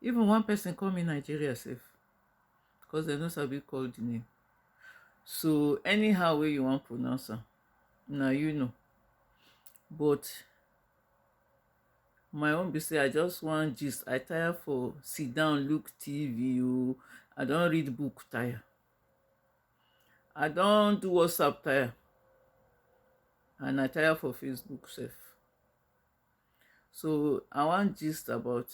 even one person call me nigeria sef because dem no sabi call the name so anyhow wey you wan pronounce am na you know but my own be say i just wan gist i tire for sit down look tv o i don read book tire i don do whatsapp tire and i tire for facebook sef So I wan gist about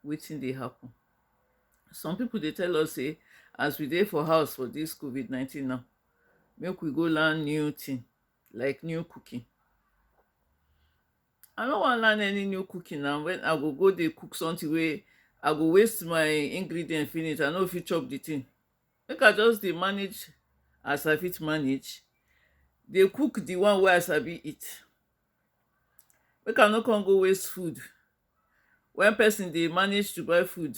wetin dey happen. Some people dey tell us say as we dey for house for this COVID-19 now, make we go learn new thing, like new cooking. I no wan learn any new cooking now when I go go dey cook something wey I go waste my ingredient finish, I no fit chop the thing. Make I just dey manage as I fit manage, dey cook the one wey I sabi eat. Make I no come go waste food when person dey manage to buy food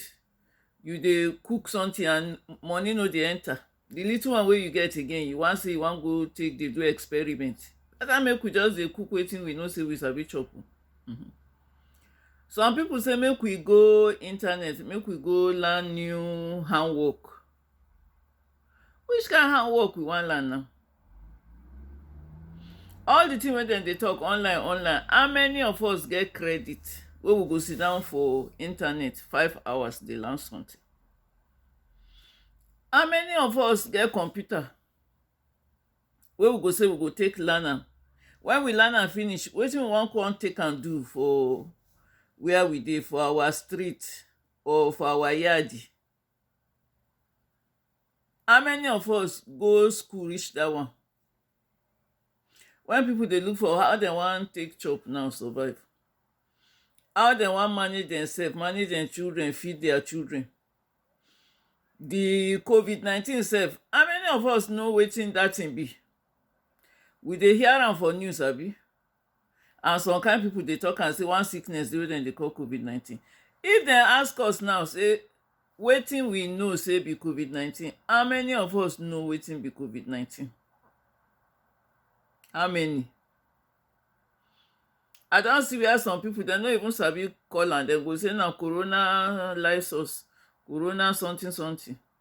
you dey cook something and money no dey enter the little one wey you get again you wan say you wan go take dey do experiment better make we just dey cook wetin we know say we sabi chop um some people say make we go internet make we go learn new handwork which kind handwork we wan learn now all the thing wey dem dey talk online online how many of us get credit wey we go sit down for internet five hours dey learn something how many of us get computer wey we go say we go take learn am when we learn am finish wetin we wan come take am do for where we dey for our street or for our yard How many of us go school reach dat one? When people dey look for how dem wan take chop now survive. How dem wan manage demself, manage dem children, feed their children. The covid nineteen self, how many of us know wetin dat thing be? We dey hear am for news abi? and some kind people dey talk am say one sickness dey wey dem dey call covid 19 if dem ask us now say wetin we know say be covid 19 how many of us know wetin be covid 19 how many I don see where some people dem no even sabi call am dem go say na corona lysus corona something something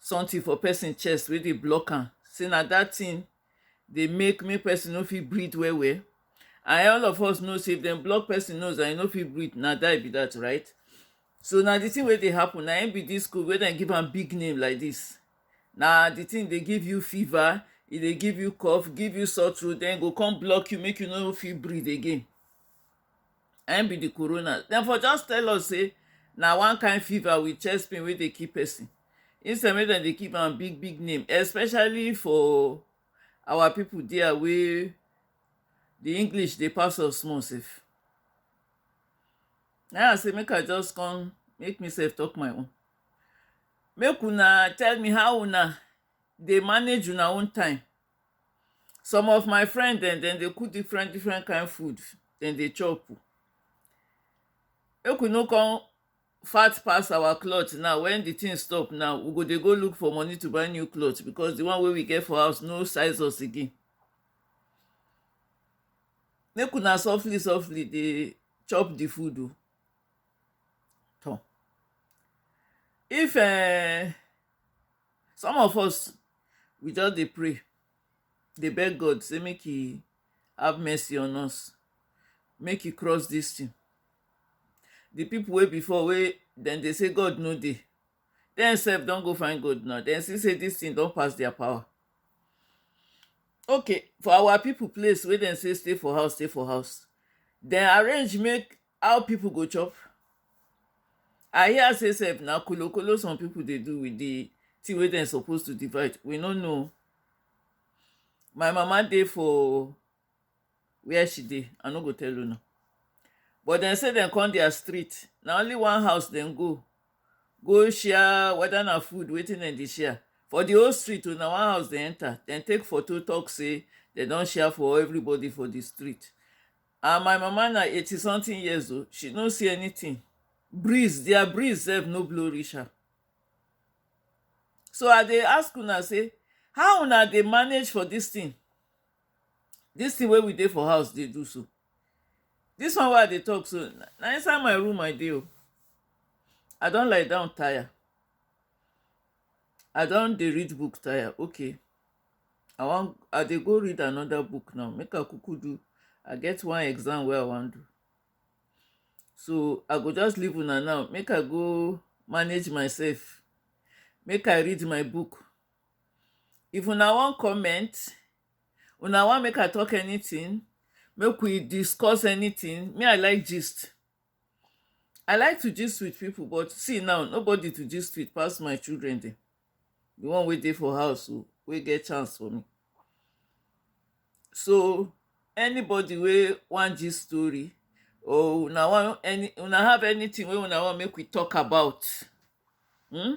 something for person chest wey dey block am sey na that thing dey make make person no fit breathe well well and all of us know sey if dem block person nose and e no fit breathe na die be that right so na the thing wey dey happen na im be this cold wey dem give am big name like this na the thing dey give you fever e dey give you cough give you sore throat then e go come block you make you no fit breathe again na im be the corona. Dem for just tell us sey na one kind fever with chest pain wey dey kill person. Instead make dem dey give am big big name especially for our people dere wey the English dey pass us small self. Na im I say make I just come make me self talk my own. Make una tell me how una dey manage una own time. Some of my friend dem, dem dey cook different different kind food dem dey chop oh. Make we no con fat pass our cloth now. When the thing stop now, we go dey go look for money to buy new cloth because the one wey we get for house no size us again. Make una softly softly dey chop the food oh. Tor! If um some of us we just dey pray dey beg god say make he have mercy on us make he cross this thing the people wey before wey dem dey say god no dey dem sef don go find god now dem see say this thing don pass their power okay for our people place wey dem say stay for house stay for house dem arrange make How people go chop? I hear say sef na kolo kolo some people dey do with the thing wey dem suppose to divide. We no know. My mama dey for where she dey. I no go tell una. But dem say dem come their street. Na only one house dem go. Go share whether na food wetin dem dey share. For the whole street o, na one house dem enter. Dem take photo talk say dem don share for everybody for the street. and my mama na eighty something years o she no see anything breeze their breeze sef no blow reach her so i dey ask una say how una dey manage for this thing this thing wey we dey for house dey do so this one wey i dey talk so na inside my room i dey o i don lie down tire I don dey read book tire okay I wan I dey go read another book now make I kuku do I get one exam wey I wan do so I go just leave una now make I go manage myself make I read my book if una wan comment una wan make I talk anything make we discuss anything me I like gist I like to gist with people but see now nobody to gist with pass my children dem. The one wey dey for house o, wey get chance for me. So anybody wey wan gist story or una wan any una have anything wey una wan make we talk about hmm,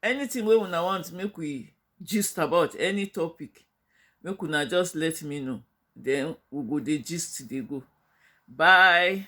anything wey una want make we gist about, any topic make una just let me know den we go dey gist dey go bye.